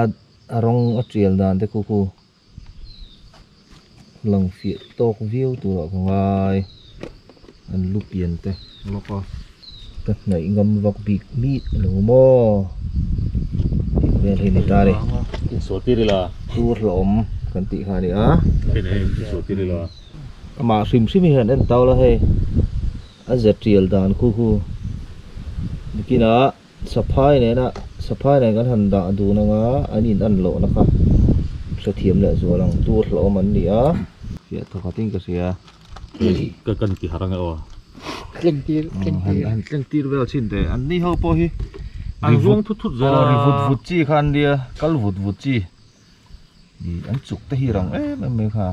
Ad a rawng a tial dan te khu khu lang fiah tawk viau turah ka ngai an lu pian te lawk a. Ka hnaih ngam vak bik bik a lo maw tih vel hi a ni ta ni. Chu hlawhawm kan tih kha a ni a. Amah hrim hrim hi han en tau la hei a za tial dan khu khu bikinah. Saphai nena Saphai nen kan han dah dun anga an in an loh na kha hrethiam leh zual ang tur hlauhawm an ni a. Hriat tha khatin ka hria ka kan ti harh ang e aw. Tlengtir tlengtir. Han tlengtir vel chin teh an ni ho pawh hi an ruang thut thut zel a. Ri vut vut chi kha an nia kal vut vut chi. an chuk te hi rang em em mai kha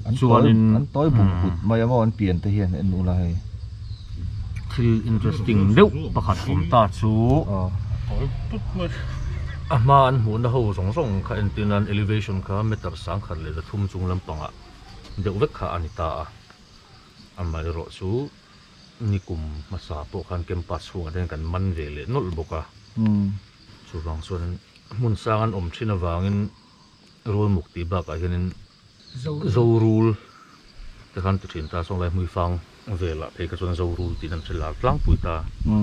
an chuan in an toy bum kut mai ang an pian te hian en ula hei thil interesting deuh pakhat awm ta chu toy put mai a hma an hmuh na ho zawng zawng kha en tin an elevation kha meter sang khat leh na thum chung lam panga deuh vek kha ani ta a amah erawh chu ni kum hmasa pawh khan campus chhung ah te hian kan man ve leh nawlh bawk a. Chu vang chuanin hmun sang an awm thin avangin rul muk tih bakah hianin zorul te khan an ti thin ta a, sawnglai hmuifang velah phei kha chuan zorul tihna an hre lak tlangpui ta a,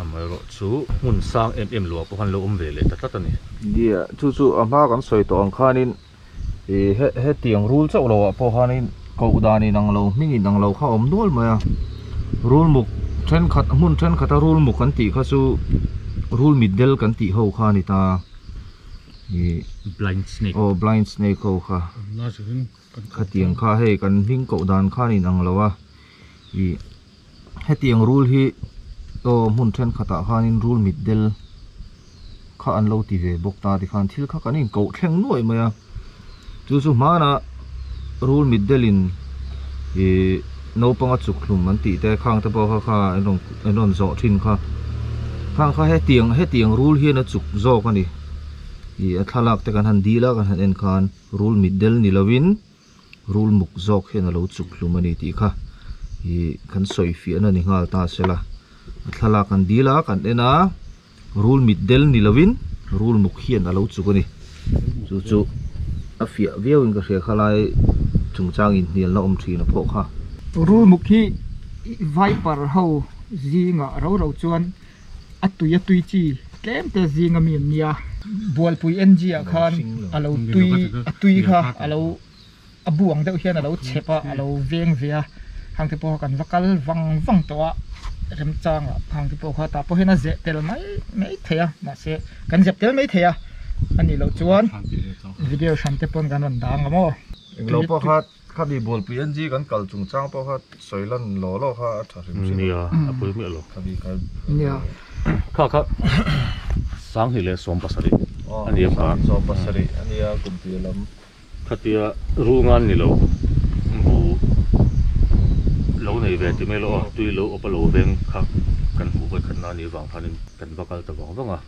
amaherawh chu hmun sang em em lo ah pawh khan lo awm ve leh ta tlat a ni. India chu chu a hma kan sawi tawh ang khanin Hetiang rul chauh lo ah pawh hian in koh dan in ang lo hming in ang lo kha awm nual mai a rul muk thenkhat hmun thenkhat a rul muk kan tih kha chu rul mit del kan tih ho kha a ni ta ih blind snake aw blind snake ho kha hetiang kha hei kan hming koh dan khan in ang lo a ih. Heti ang rule hi aw hmun thenkhatah khanin rule mitdel kha an lo ti ve bawk ta tikhan thil kha kan inkoh thleng nuai mai a. Chu chu hmana rule mitdelin ih naupanga chukthlum an tih te khangte pawh kha kha an rawn an rawn zawh thin kha. Khang kha heti ang heti ang rule hian a chuk zawk a ni. Ih a thlalakte kan han dil a kan han en khan rule mitdel ni lovin. rul muk zawk hian a lo chuk hlum a ni tih kha ih kan sawi fiah na ni nghal ta se la a thlalak an dil a kan en a rul mit del ni lo in rul muk hian a lo chuk a ni chu chu a fiah viau in ka hria kha lai chung chang in hnial na awm thin a pawh kha rul muk hi vaiper ho zing ah ro ro chuan-- A tui a tui chi tlem te zinga mi an nia. Bualpui NG ah khan a lo tui a tui kha a lo a bu ang deuh hian a lo chep a, a lo veng ve a. Khang te pawh kan va kal vang vang tawh a, remchang ah khang te pawh kha tah pawh hian a zeh tel mai mai thei a, mahse kan zep tel mai thei a, a nih loh chuan video hran te pawn kan rawn dang ang maw. Englo pawh kha. Khami bualpui NG kan kal chung chang pawh kha sawi lan law law kha a tha hrim hrim a. Nia, a pui miah lo. Khami kha. Nia. Kha kha Sanghi leh Sawm pasarih a ni a kha. Sanghi Sawm pasarih a ni a kum piah lam. Khatia ru ngan ni lo, bu lo nei ve ti mai lo a, tui lo awpa lo veng kha kan hmuh hawi khatna a nih avang khanin kan va kal ta vang vang a,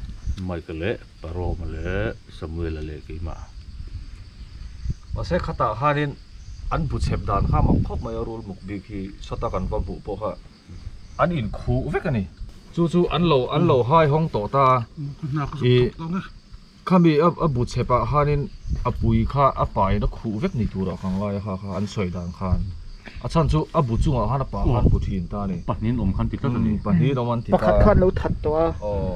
Mike leh. Pa Roma leh Samuela leh keimah pasal khatah khanin an bu chhep dan kha mak khawp mai a, rul muk bik hi sawta kan va hmuh pawh kha an in khuh vek a ni. Chu chu an lo an lo hai hawng tawh ta a, i khami a bu chhep ah khanin a pui kha a pa in a khuh vek ni tur ah kha ang lai a kha kha an sawi dan khan a chhan chu a bu chungah khan a pa khan bu thin ta a ni. Pahnih an awm khan ti tlat a ni. Pahnih an awm an ti ta a. Pakhat khan lo that tawh a. Aw.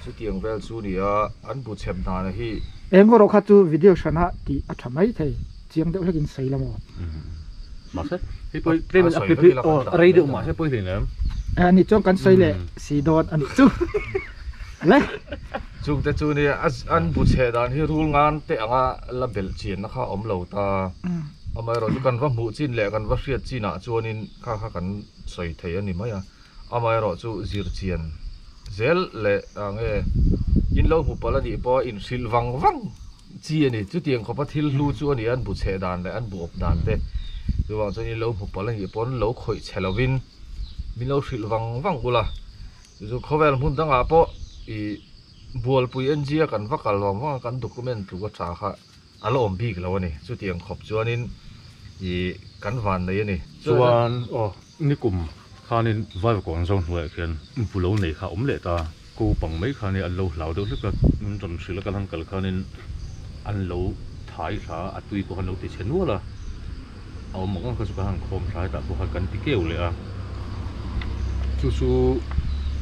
Chutiang vel chu ni a, an bu chep dana hi. Eng erawh kha chu video hran a tih a tha mai thei. Chiang deuh hlekin sawi la maw? Mahse, hi pawh hi claim in a aw a rei deuh mahse pawh hi hlim em? A ni chuan kan sawi leh si dawn a nih chu. Hle! Chung te chu nia, an bu chheh dan hi rul ngan teh anga la belh chianna kha a awm lo ta. Amaherawhchu kan va hmuh chin leh kan va hriat chinah chuanin kha kha kan sawi thei a ni mai a. Amaherawh chu zirchian zel leh ah nge in lo hmu palh a nih pawh a inhrilh vang vang chi a ni. Chutiang khawpa thil hlu chu a ni a, an bu chheh dan leh an bu awp dan te. Chuvang chuan in lo hmu palh a nih pawh an lo khawih chhe lovin min lo hrilh vang vang ula. Chu chu khawvel hmun dangah pawh ih bualpui enziak an va kal vang vang a, kan document tlu a tha kha. A la awm bik lo a ni. Chuti ang khawp chuanin ih kan van nei a ni. Chuan aw nikum khanin Vaivakawn zau hnuaiah khian bu lo nei kha a awm leh ta. Ko pang mai khanin an lo hlau deuh hlek a. Ram hrilh a kal han kal khanin an lo thai thla a, a tui pawh han lo ti chhe nual a. a awm ang ang kha chu ka han khawm thlai tah pawh khan kan ti keu leh a chu chu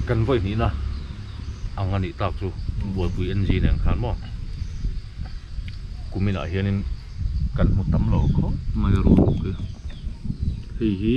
kan vawi hnihna ang a nih tak chu buaipui n g nen khan maw kumin ah hian in kan hmu tam lo khawp mai a rawh hei hi.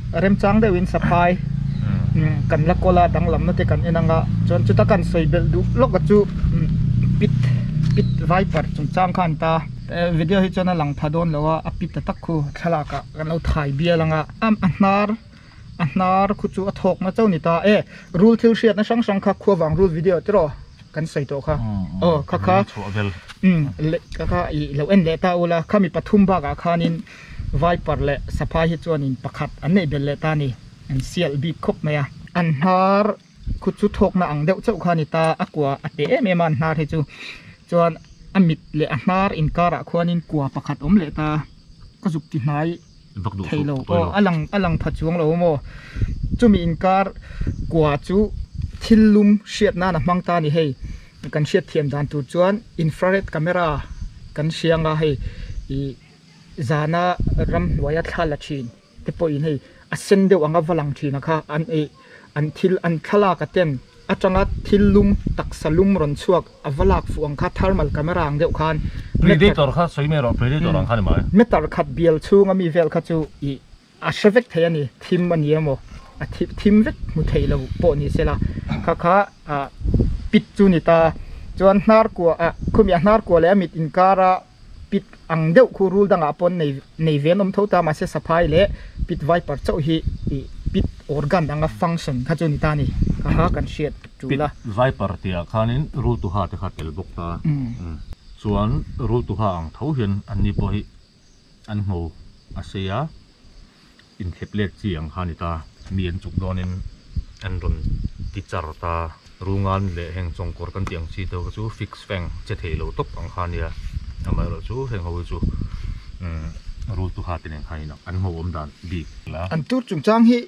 remchang deuh in saphai kan la kawl a danglam na te kan en ang a chuan chuta kan sawi belh duh lawk a chu pit pit vaipat chungchang kha an ta a video hi chuan a lang tha dawn lo a a pit ta tak khu thlalak ah kan lo thai bial ang a a hnar a hnar khu chu a thawk na chauh a ni ta e rul thil hriat na hrang hrang kha khuavang rul video te rawh kan sawi tawh kha aw kha kha leh kha kha i lo en leh ta ula kha mi pathum bak ah khan in Vaiparh leh Saphai hi chuan in pakhat an neih bel leh ta ni, an sialh bik khawp mai a. An hnar khu chu thawkna ang deuh chauh kha a ni ta, a kua a teh em em a an hnar hi chu, chuan a mit leh a hnar inkarah khuanin kua pakhat awm leh ta, ka zuk ti hnai thei lo, aw a lang a lang pha chuang lo maw, chumi inkar kua chu thil lum hriat nan a hmang ta a ni hei, kan hriat thiam dan tur chuan infrared camera kan hriang a hei ih. Zana ram hnuaia thla la thin te pawhin hei a sen deuh anga va lang thina kha an ei. An thil an thlalaka ten atanga thil lum taksa lum rawn chhuak a va lak fuh ang kha thermal camera ang deuh khan Predator kha sawi mai rawh Predator ang khan i mai. Meter khat bial chhunga mi vel kha chu i A hre vek thei a ni, thim a ni a maw? A thim thim vek hmu thei lo pawh ni se la, kha kha ah pit chu ni ta. Chuan hnar kuah ah khawmi a hnar kuah leh a mit inkar a pit ang deuh khu rul dangah paw'n nei nei ve an awm tho ta, mahse saphai leh pit vaiper chauh hi ih pit organ anga function kha chu ni ta a ni, kha kha kan hriat tul a. Pit vaiper tih ah khanin rultuha te kha a tel bawk ta, chuan rultuha ang tho hian an ni pawh hi. an hmu a sei a inthlep lek chi ang kha a ni ta mi an chuk dawn in an rawn ti char ta rungan leh heng chawngkawr kan tih ang chi te ho chu fix feng che thei lo tawp ang kha a nia amah erawh chu heng ho hi chu umm rultu ha te nen khain an hmu awm dan bik la an tur chungchang hi--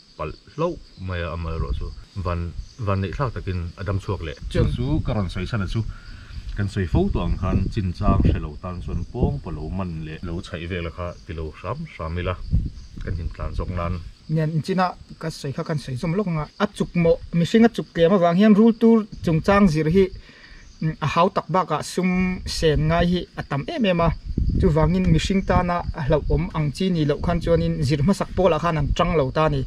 palh hlauh mai a amal erawh chu van van neih thlak takin a dam chhuak leh. Cheng chu ka rawn sawi chhan a chu kan sawi fo tawh ang khan chin chang hre lo tan chuan pawng pawh lo man leh lo chhaih vek la kha ti lo hram hram ila kan him tlan zawk nan. Nen chin a ka sawi kha kan sawi zawm lawk ang a a chuk mawh mihring a chuk tlem avang hian rul tur chungchang zir hi a hau tak bakah sum sen ngai hi a tam em em a, chuvangin mihring tana a hlauhawm ang chi nih loh khan chuanin zir hmasak pawlah khan an ṭang lo ta a ni.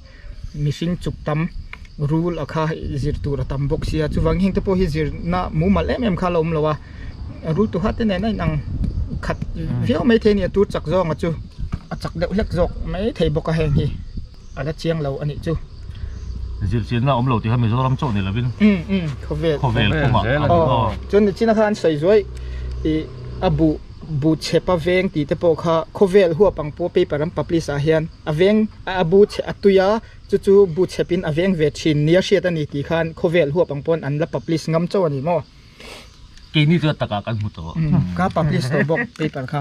Mihring chuk tam rule a kha zir tur a tam bawk sia, chuvangin hengte pawh hi zirna mumal em em kha a lo awm lo a, rultu hate nen a inang khat viau mai thei a ni a, tur chak zawng a chu a chak deuh hlek zawk mai thei bawk a heng hi. a la chiang lo a nih chu zirtirna a awm lo tih kha Mizoram chauh ni lo in khawvel khawvel pawm ah a awm a chuan ni chin a khan sawi zuai ih a buh bu chhep a veng tih te pawh kha khawvel huap ang pawh paper an publish ah hian a veng a bu chhe a tui a chu chu bu chhep in a veng ve thin nia hriat a ni tih khan khawvel huap ang pawn an la publish ngam chauh a ni maw keini chu a tak ah kan hmu tawh ka publish tawh bawk paper kha.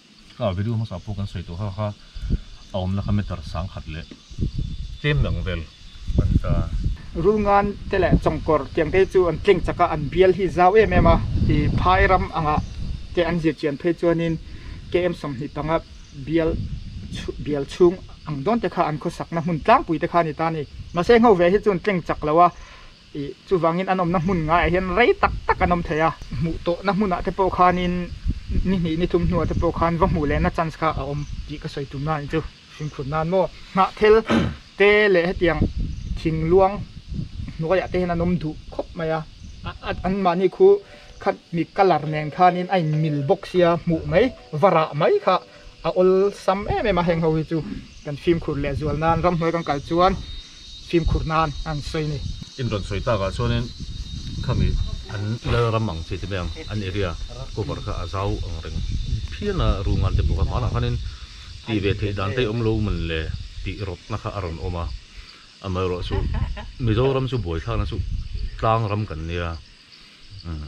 Tlâwah video hmasa pawh kan sawi tawh hak a, a awmna kha meter sâng khat leh tlêm dang vel a ni ta. Rulngan te leh chawngkawr tiangtei chu an tleng chak a, an bial hi zau em em a, i phai ram angah te an zirchian phei chuanin KM sawmhnih panga bial chhu bial chhung ang dawnte kha an khawsakna hmun tlangpui te kha a ni ta a ni. Mahse, ngo ve hi chun tleng chak lo a, Chuvangin an awmna hmun ngaiah hian rei tak tak an awm thei a, hmuh tawh na hmunah te pawh khanin ni hnih ni thum hnuah te pawh khan va hmuh leh na chance kha a awm tih ka sawi tum nan chu hrimkhur nan maw nghah thel te leh hetiang thing luang hnuaiah te hian an awm duh khawp mai a, an mahni khu khat mi colour nen khanin a in mil bawk sia hmuh mai va rah mai kha. a awlsam em em a heng ho hi chu kan fimkhur leh zual nan ramhnuai kan kal chuan fimkhur nan a han sawi a ni. Chin rawn sawi takah chuanin khami an Lalram ang chi te mai ang an area cover kha a zau ang reng phian a, Rungan te pawh kha hmanah khanin tih ve theih dan te awm lo man le tih rawtna kha a rawn awm a, amaherawhchu Mizoram chu buai thlakna chu tlang ram kan nia umm.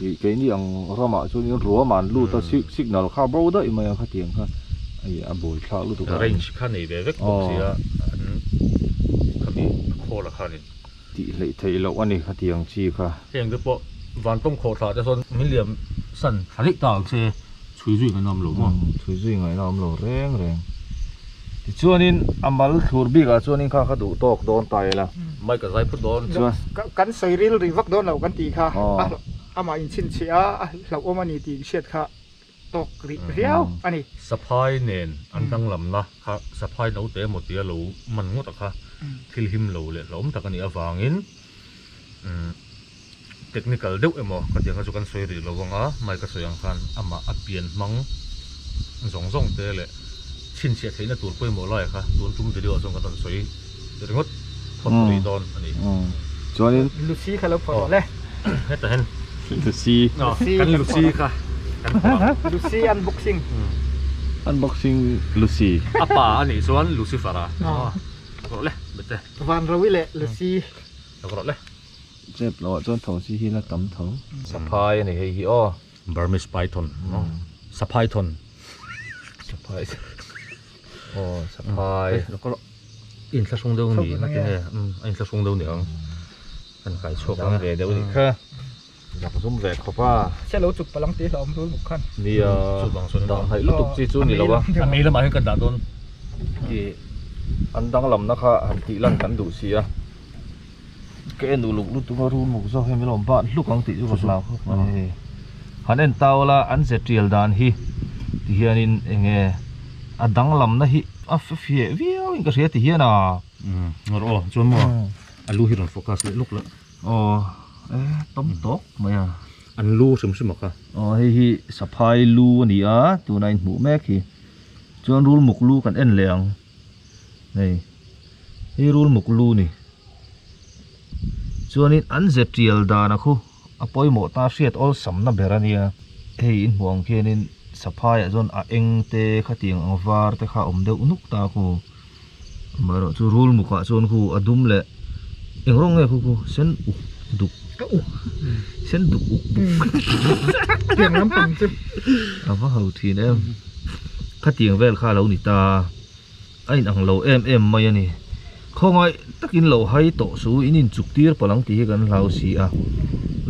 Ih keini ang ramah chuanin ruama an lut a, signal kha bo daih mai ang khatiang kha ih a bawi thlak lutuk a. Range kha nei ve vek bawk si a, an khami a call a khanin. Tih hleih theih loh a ni khatiang chi kha. Heng te pawh vantawng khawhthla te sawn min liam san thla daih ta ang che. Chhui zui ngaina awm lo maw? Umm chhui zui ngaina awm lo reng reng. Tichuanin a mal thlur bikah chuanin kha ka duh tawk dawn ta ila. Mic a zai phut dawn. Chuan. Kan sawi ril ri vak dawn lo kan tih kha a hlauh amah in chhinchhih a, a hlauh awm a ni tiin hriat kha tawk rih riau a ni. Saphai nen an danglamna kha saphai naute emaw tia lo man ngawt a kha thil him lo leh hlauhawm tak a nih avangin umm. Technical deuh emaw ka tiang kha chu kan sawi rih lo vang a, mai ka sawi ang khan amah a pian hmang zawng zawng te leh chhinchhiah theihna tur pawimawh lai kha tun tum video ah chuan kan rawn sawi ringawt phawt rih dawn a ni. Chuanin Lucy kha lo phawt rawh le. Heta hian Lucy kan Lucy kha kan phawt ang. Lucy unboxing. Unboxing Lucy. A pa a nih chuan Lucifer a. Rawh le Bete. Vanrowi leh Lucy. Rawh le. Chep loh ah chuan thosi hi la tam tho. Saphai a ni hei hi aw. Burmese python aw saphaithon aw saphai in thla hrung deuh ni a ni a in thla hrung deuh ni ang a inkai chhuak ang a. Dak zum ve khawp a. Hre lo chuk palang tih a awm rul bawk khan. Nia dah ngaih lutuk chi chu ni lo a. A mei lamah hian kan dah dawn. Tih an danglamna kha han tih lan kan duh si a. Ka en uluk lutuk a rul muk zawk hemi lo ban hluk ang tih chu ka hlau khawp mai a ni. Han en ta ula an ze tial dan hi ti hianin enge a danglamna hi a fiah viau in ka hria ti hian a. Rawh aw chuan maw a lu hi rawn focus leh lawk la. Aw e tam tawk mai a. An lu hrim hrim a kha. Aw hei hi saphai lu a ni a tuna in hmuh mek hi chuan rul muk lu kan en leh ang hei hi rul muk lu ni chuanin an ze tial dan a khu a pawimawh ta hriat awlsam na ber a nia hei in hmuh ang khianin saphai ah chuan a eng te khatiang ang var te kha awm deuh nuk ta a khu. Amaherawh chu rul mukah chuan khu a dum leh eng rawng nge khu khu sen uk duk ka uk sen duk uk duk tiang lampang chu a va ho thin em khatiang vel kha lo ni ta a inang lo em em mai a ni khawngaih takin lo hai tawh su in inchuk tir pawlh ang tih hi kan hlau si a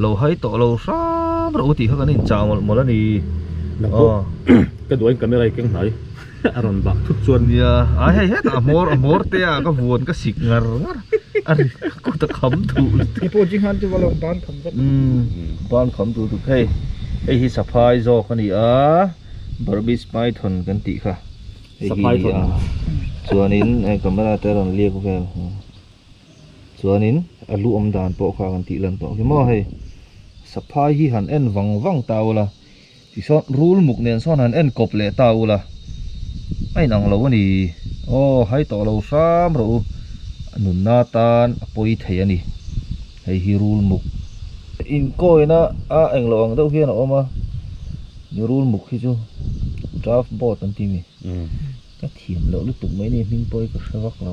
lo hai tawh lo hram ro tih kha kan inchah mawlh mawlh a ni aw ka duai in camera i keng hnai. a rawn bak thut chuan nia ai hei hetah a hmawr a hmawr te a ka vuan ka sik ngar ngar a ri ka kut a kham thuh leh te pawh chi hlan chu va lo ban kham vek umm ban kham duh duh phei hei hi saphai zawk a ni a burmese python kan tih kha hei hi a ni a chuanin hei camera te a rawn lek vel hnawh chuanin a lu awm dan pawh kha kan tih lan tawh hi maw hei saphai hi han en vang vang ta ula. Tisawn rul muk nen sawn han en kawp leh ta ula, a inang lo a ni. Aw, hai tawh lo hram rawh u, a nunna atan a pawi thei a ni. Hei hi rul muk. Inkawina a eng lo ang deuh hian a awm a, ni rul muk hi chu draft board an timi, ka thiam loh lutuk mai ni hming pawh hi ka hre vak lo.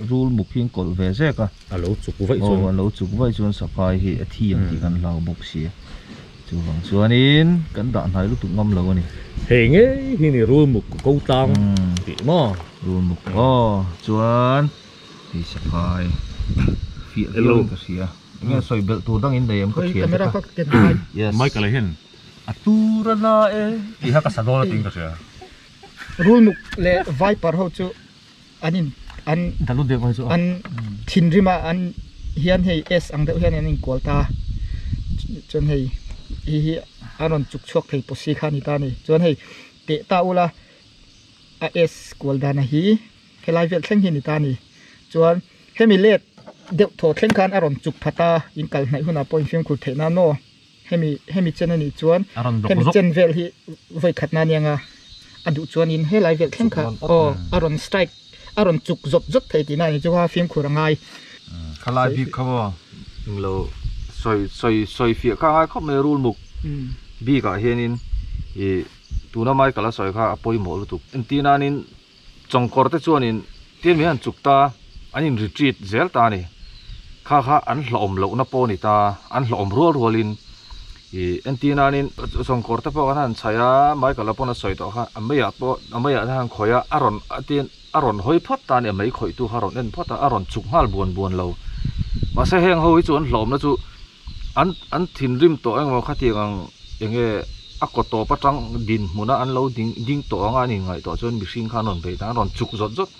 Rul muk hi an kawlh ve zek a. A lo chuk vaih chuan. Aw, a lo chuk vaih chuan Sakai hi a thi ang tih kan hlau bawk si a. Chuvang chuanin kan dah hnai lutuk ngam lo a ni. Hei ngei hi ni rul muk ka ko tlang tih maw? Rul muk aw chuan hei Sakai fiah viau in ka hria a. Enge a sawi belh tur dangin nei ang ka thian tawk a. Yes. Mike leh hian a tur a la e tih kha ka sa dawn a tiin ka hria. Rul muk leh Vaiparho chu. an in an dalu deuh mai chu an thinrim a an hian hei S ang deuh hian an in kual ta chuan hei i hi an rawn chuk chhuak thei pawh si kha a ni ta ni chuan hei teh ta ula a S kual dan a hi helai vel thleng hi a ni ta ni chuan hemi let deuh thaw thleng khan a rawn chuk phata inkal hnaih hunah pawh in fimkhur theih nan maw. Hemi hemi chen anih chuan hemi chen vel hi vawi khatna aniang a, a duh chuanin helai vel thleng kha aw a rawn strike a rawn chuk zawp zawp thei tihna ani chu a fimkhur a ngai. Khalai bik kha maw eng lo sawi sawi sawi fiah kha a ngai khawp mai a rul muk bikah hianin ih tuna mai kal a sawi kha a pawimawh lutuk entir nain. Chawngkawr te chuan in tlem hian chuk ta an in retreat zel ta a ni. Kha kha an hlawhawm loh na pawh a ni ta, an hlawhawm rual rual in i entir nan in chawngkawr te pawh kan han chhaih a, Michael a pawn a sawi tawh kha a mei ah pawh a mei ah te han khawih a, a rawn tin a rawn hawi phawt ta a ni, a mei khawih tu kha a rawn en phawt a, a rawn chuk nghal buan buan lo. Mahse heng ho hi chu an hlawhawm na chu. An an thinrim tawh engemaw khatiang ang enge a kaw tawp atang dinhmuna an lo ding ding tawh ang a, a nih ngaih tawh chuan mihring kha an rawn bei ta, an rawn chuk zawt zawt.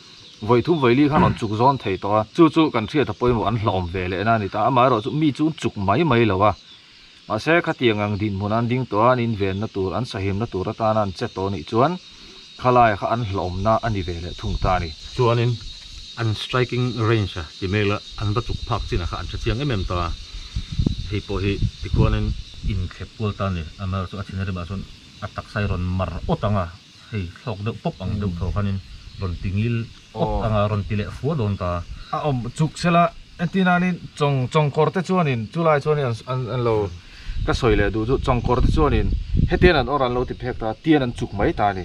Vaithum vaili kha an rawn chuk zawn thei tawh a, chu chu kan hriata pawimawh an hlawm ve leh na a ni ta, amaherawh chu mi chu an chuk mai mai lo a, mahse khatiang ang dinhmuna an ding tawh a, an invenna tur an sahimna tur atana an che tawh anih chuan Khalai kha an hlauhawmna a ni ve leh thung ta a ni. Chuanin an striking range-a ti mai la, an va chuk phak chinah kha an tha chiang em em ta a. Hei pawh hi tikhuanin inthlep kual ta a ni. Amer chu a thina rimah chuan a taksa hi rawn mar awt ang a, hei thlawk deuh pawp ang deuh thaw khanin rawn ti ngil. Kawp tanga rawn ti leh fua dawn ta. A awm chuk sela, entir nanin chawng chawng kawr te chuanin chulai chuanin an an an lo ka sawi leh duh chu chawng kawr te chuanin hetian an awrh an lo ti phek ta tian an chuk mai ta ni.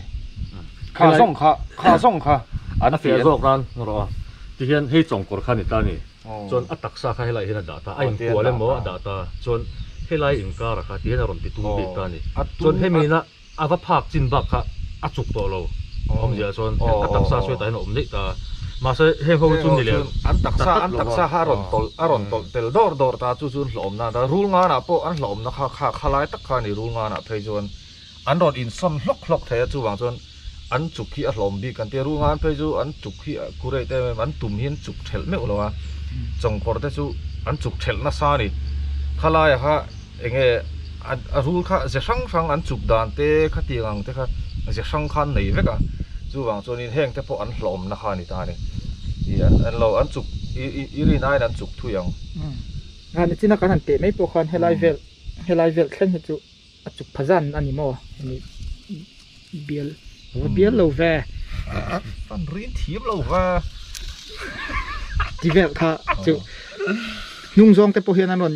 Kha zawng kha kha zawng kha an tih a zawk nan hmu rawh a ti hian hei chawng kawr kha ni ta ni chuan a taksa kha helai hian a dah ta a inkual emaw a dah ta chuan helai inkara kha ti hian a rawn ti tum bik ta ni chuan hemi na A va phak chin bak kha a chuk tawh lo awm zia chuan eng a taksa sawi tahin a awm daih ta a, mahse heng ho hi chu nileh an ta tat lo va, a rawn tawlh a rawn tawlh tel dawr dawr ta chu chu hlauhawm nan ata rul nganah pawh an hlauhawm na kha kha kha lai tak kha a ni rul nganah phei chuan an rawn in sawn hlawk hlawk thei a chuvang chuan an chuk hi a hlauhawm bik kan tia rul ngan phei chu an chuk hi a kurei te em em an tum hi an chuk thelh meuh lo a chawngkawr te chu an chuk thelh nasa a ni kha laia kha Eng nge a rul kha ze hrang hrang an chuk dan te khatiang ang te kha ze hrang khan nei vek a chuvang chuan in heng te pawh an hlawm na kha ni ta ni i an lo an chuk i rin aiin an chuk thui ang a ni chin a kan han teh mai pawh khan helai vel helai vel thleng hi chu a chuk pha zan a ni maw hemi bial va bial lo ve fan rin thiam lo va ti vel kha chu hnung zawng te pawh hian an rawn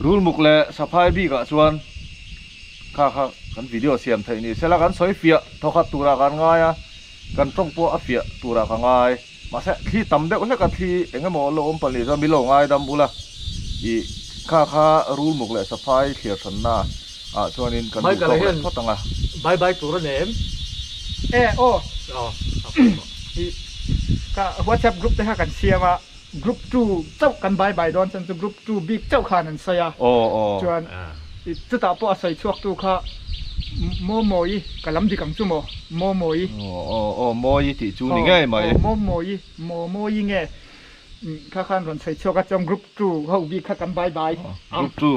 Rulmuk leh saphai bikah chuan kha kha kan video siam theih ni sela kan sawi fiah thaw khat turah kan ngai a, kan tawng pawh a fiah turah ka ngai. Mahse thli tam deuh hleka thli engemaw lo awm pahnih chuan milo ngaidam ula i kha kha rulmuk leh saphai thliar thanna ah chuanin kan duh tawk leh phawt ang a. Bai bai tur a nei em? E aw. Aw. Aw. Hi ka WhatsApp group te kha kan siam a, Group two chauh kan by by dawn chuan chu group two bik chauh khan an sawi a chuan i chutah pawh a sawi chhuak tu kha Maw Mawi ka lam dik ang chu maw Maw Mawi aw Mawi tih chu ni ngei mai aw Maw Mawi Maw Mawi nge kha khan rawn sawi chhuak a chuan group two ho bik kha kan by by group two.